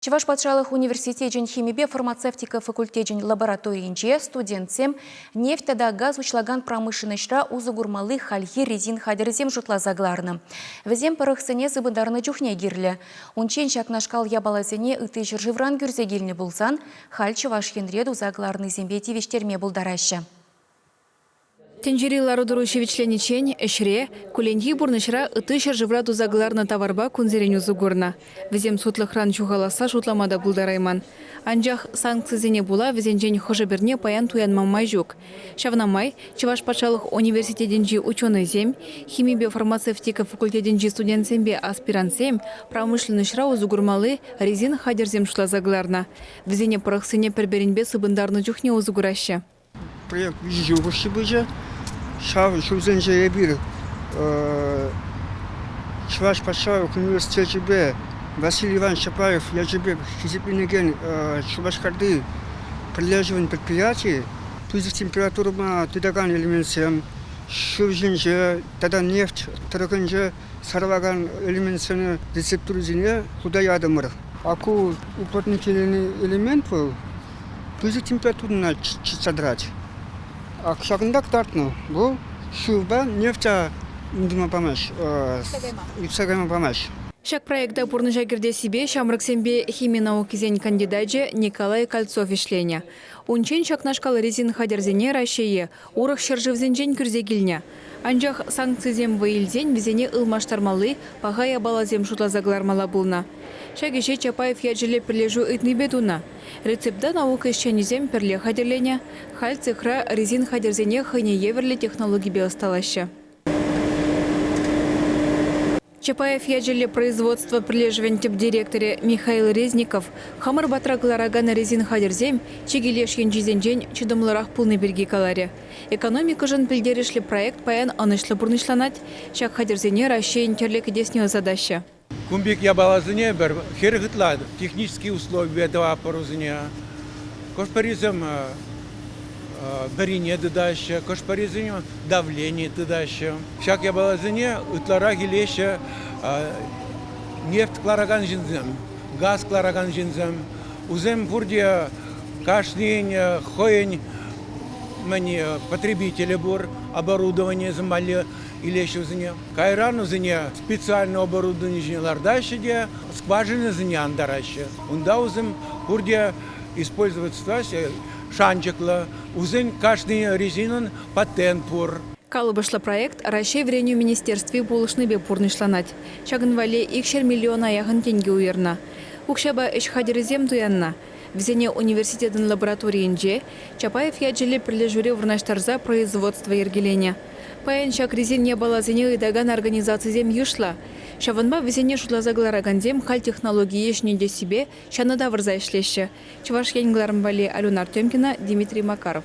Чӑваш патшалӑх университечӗн химипе фармацевтика факультечӗн лабораторийӗнче студентсем нефть тата газ уҫлакан промышленноҫра усӑ курмалли хальхи резин хатӗрӗсем шутласа кӑларнӑ. Вӗсем пӑрӑхсене сыпӑнтарнӑ чухне кирлӗ. Унччен ҫакнашкал япаласене ытти ҫӗршывран кӳрсе килнӗ пулсан, халь Чӑваш Енре туса кӑларнисемпе тивӗҫтерме пултараҫҫӗ. Тӗнчери лару-тӑру ҫивӗчлениччен ӗҫре, кулленхи пурнӑҫра ытти ҫӗршывра туса кӑларнӑ таварпа кунсерен усӑ курнӑ. Вӗсем сутлӑхран ҫухаласса шутлама та пултарайман. Анчах санкцисене пула вӗсенчен хӑшӗ-пӗрне паян туянма май ҫук. Ҫавна май Чӑваш патшалӑх университетӗнчи ученӑйсем, химипе фармацевтика факультетӗнчи студентсемпе аспирантсем промышленноҫра усӑ курмалли резин хатӗрсем шутласа кӑларнӑ. Вӗсене пӑрӑхсене пӗр-пӗринпе сыпӑнтарнӑ чухне усӑ кураҫҫӗ. Проект виҫӗ ҫул хушши пычӗ. Ҫав ҫулсенче эпир Чӑваш патшалӑх университечӗпе Василий Иванович Чапаев ячӗпе хисепленекен Шупашкарти пӗрлешӗвӗн предприятийӗ пысӑк температурӑпа тытакан элементсем, шыв ҫинче тата нефть тӑрӑхӗнче сарӑлакан элементсене рецептурӑсене хута ятӑмӑр. Аку уплотникелени элемент вӑл. пысӑк температурӑна чӑтса тӑрать. Ак ҫакӑнта кӑтартнӑ. Вӑл шывпа нефтя тытма памасть, ӳссе кайма памасть. Ҫак проекта пурнӑҫа кӗртессипе ҫамрӑксемпе хими наукисен кандидачӗ Николай Кольцов ӗҫленӗ. Унччен ҫакнашкал резин хатӗрсене Раҫҫее, Урӑх ҫӗршывсенчен кӳрсе килнӗ. Анчах санкцисем вӑй илсен вӗсене ылмаштармалли паха япаласем шутласа кӑлармалла пулнӑ. Ҫак ӗҫе Чапаев ячӗллӗ пӗрлешӳ ыйтнипе тунӑ. Рецепта наука ӗҫченӗсем пӗрле хатӗрленӗ, халь цехра резин хатӗрсене хӑйне евӗрлӗ технологипе ӑсталаҫҫӗ. Чапаев ячӗллӗ производство пӗрлешӗвӗн тӗп директорӗ Михаил Резников хамӑр патра кӑларакан резин хатӗрсем чикӗ леш енчисенчен чӑтӑмлӑрах пулни пирки каларӗ. Экономикӑшӑн пӗлтерӗшлӗ проект паян ӑнӑҫлӑ пурнӑҫланать, ҫак хатӗрсене Раҫҫейӗн тӗрлӗ кӗтесне ӑсатаҫҫӗ. Кун пек япаласене пӗр хӗрӗх ытла технически условипе тӑватпӑр вӗсене. Хӑш-пӗрисем вӗрине тытаҫҫӗ, хӑш-пӗрисен давлени тытаҫҫӗ. Ҫак япаласене ытларах илеҫҫӗ нефть кӑларакан ҫынсем, газ кӑларакан ҫынсем. Вӗсем пурте кашнин хӑйӗн потребителӗ пур, оборудованийӗсем валли илеҫҫӗ вӗсене. Кайран вӗсене специальное оборудовани ҫине лартаҫҫӗ те скважинӑсене антараҫҫӗ. Унта вӗсем пурте использовать шанчӑклӑ, усен кашни резинӑн патент пур. Калӑпӑшлӑ проект Раҫҫей Вӗренӳ министерстви пулӑшнипе пурнӑҫланать. Ҫакӑн валли икҫӗр миллиона яхӑн тенкӗ уйӑрнӑ. Укҫапа ӗҫ хатӗрӗсем туяннӑ. Вӗсене университетӑн лабораторийӗнче, Чапаев ячӗллӗ пӗрлешӳре вырнаҫтарса производство йӗркеленӗ. Паян ҫак резин япаласене ыйтакан организацисем йышлӑ. Ҫавӑнпа вӗсене шутласа кӑларакансем халь технологие ҫӗнетессипе ҫанӑ тавӑрса ӗҫлеҫҫӗ, Чӑваш Ен кӑларӑм валли Алюна Артемкина, Дмитрий Макаров.